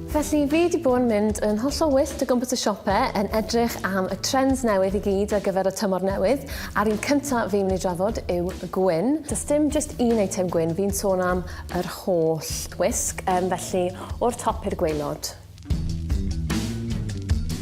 Felly, fi wedi bod yn mynd yn hollol wyllt o gwmpas y siopau yn edrych am y trends newydd i gyd ar gyfer y tymor newydd, a'r un cyntaf fi'n mynd i drafod yw y gwyn. Does dim just un eitem gwyn, fi'n sôn am yr holl wisg, um, felly o'r top i'r gweilod.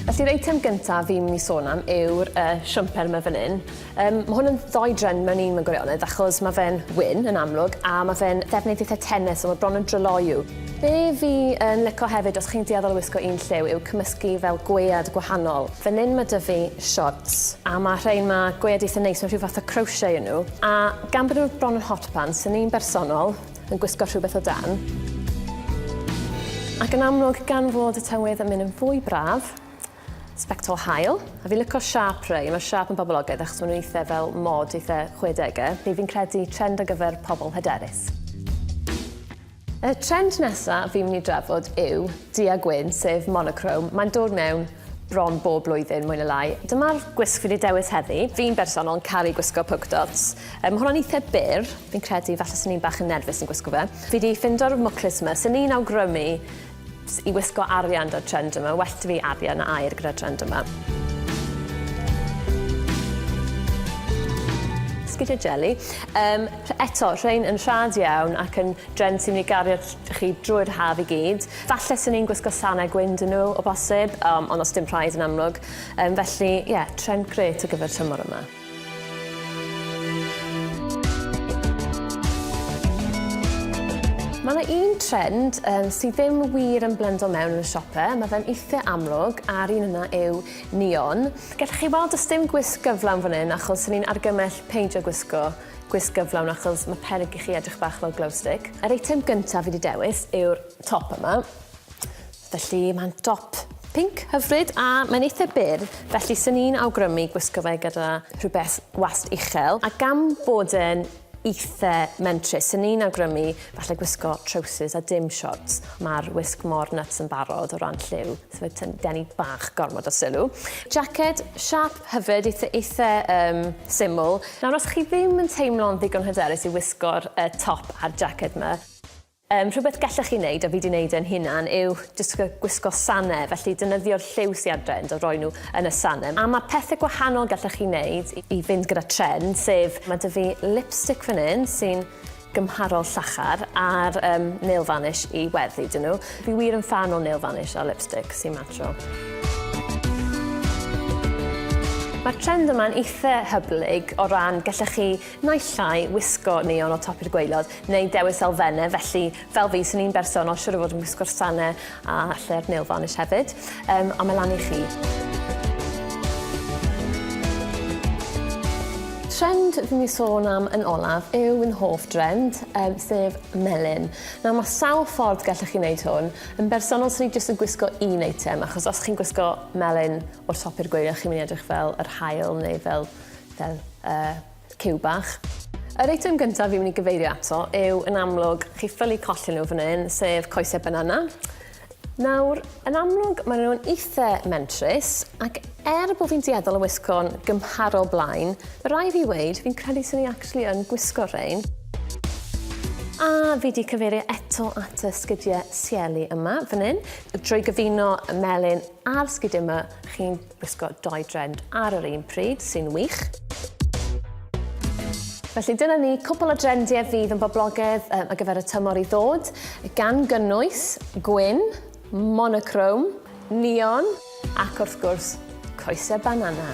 Felly yr eitem gyntaf fi'n mynd i sôn am yw'r uh, siwmper yma fan hyn. Um, mae hwn yn ddoi dren mewn un mewn gwirionedd achos mae fe'n wyn yn amlwg a mae fe'n ddefnydd eitha tennis so mae bron yn dryloiw. Be fi yn lico hefyd os chi'n dueddol o wisgo un lliw yw cymysgu fel gwead gwahanol. Fan hyn mae dy fi shorts a mae rhain mae gwead eitha neis mewn rhyw fath o crochet yn nhw a gan bod nhw bron yn hot pants yn un bersonol Yn gwisgo rhywbeth o dan. Ac yn amlwg, gan fod y tywydd yn mynd yn fwy braf, sbectol hael, a fi'n lyco siap rei, mae'r siap yn boblogaidd achos maen nhw'n eitha fel mod, eitha 60au, neu fi'n credu trend ar gyfer pobl hyderus. Y trend nesaf fi'n mynd i drafod yw du a gwyn, sef monochrome, mae'n dod mewn bron bob blwyddyn mwy ne lai. Dyma'r gwisg fi 'di dewis heddi. Fi'n bersonol yn caru gwisgo polka dots. Yy ma' hwnna'n eitha byr, fi'n credu falle swn i'n bach yn nerfus yn gwisgo fe. Fi 'di ffindo'r mwclis 'ma, swn i'n awgrymu s- i wisgo arian 'da'r trend yma, well 'da fi arian na aur gyda'r trend yma. sgidiau jeli. Um, eto, rhain yn rhad iawn ac yn dren sy'n mynd i gario chi drwy'r haf i gyd. Falle swn i'n gwisgo sanau gwyn dyn nhw o bosib, um, ond os dim rhaid yn amlwg. Um, felly, ie, yeah, trend gret ar gyfer tymor yma. Mae yna un trend um, sydd ddim wir yn blendo mewn yn y siopau, mae fe'n eitha amlwg, a'r un yna yw neon. Gallwch chi weld does dim gwisg gyflawn fan hyn achos ni'n argymell peidio gwisgo Gwisg gyflawn achos mae peryg i chi edrych bach fel glow stick. Yr eitem gyntaf fi wedi dewis yw'r top yma. Felly mae'n dop pinc hyfryd a mae'n eitha byr, felly sy'n ni'n awgrymu gwisgo fe gyda rhywbeth wast uchel. A gan bod e'n eitha mentrus, sy'n ni'n awgrymu Falle gwisgo trowsus a dim siorts. Mae'r wisg mor nyts yn barod o ran lliw, so fe tyn- denu bach gormod o sylw. Jacket, siâp hyfryd, eitha, eitha um, syml. Nawr, os chi ddim yn teimlo'n ddigon hyderus i wisgo'r uh, top a'r jacket ma, Um, rhywbeth gallech chi wneud, a fi wedi wneud e'n hunan, yw jyst gwisgo sanau, felly dynyddio'r lliw sy'n adre yn dod roi nhw yn y sanau. A mae pethau gwahanol gallech chi wneud i fynd gyda trend, sef mae dy fi lipstick fan hyn sy'n gymharol llachar ar um, nail vanish i weddi dyn nhw. Fi wir yn fan o nail vanish a lipstick sy'n matro. Mae'r trend yma'n eitha hyblyg o ran gallech chi naill llai wisgo neon o top i'r gweilod neu dewis elfennau, felly fel fi, sy'n un berson o siwr o fod yn wisgo'r sanau A lle'r Nail Varnish hefyd. Um, a mae lan i chi. Trend fi'n ni sôn am yn olaf yw yn hoff drend, um, sef melyn. Nawr mae sawl ffordd gallwch chi wneud hwn. Yn bersonol, sy'n ni jyst yn gwisgo un eitem, achos os chi'n gwisgo melyn o'r top i'r gweilio, chi'n mynd i edrych fel yr hael neu fel, fel uh, Cyw bach. Yr eitem gyntaf fi'n mynd i gyfeirio ato yw, yn amlwg, chi ffylu colli nhw fan hyn, sef coesau banana. Nawr, yn amlwg, maen nhw'n eitha mentrus, ac er bod fi'n dueddol o wisgo'n gymharol blaen, mae rai fi weid, fi'n credu sy'n ni actually yn gwisgo rhain. A fi wedi cyfeirio eto at y sgidiau sieli yma, fan hyn. Drwy gyfuno y melyn a'r sgidiau yma, chi'n Gwisgo dou drend ar yr un pryd, sy'n wych. Felly dyna ni cwpl o drendiau fydd yn boblogedd um, ar gyfer y tymor i ddod, gan gynnwys gwyn, monochrome, neon ac wrth gwrs coesau banana.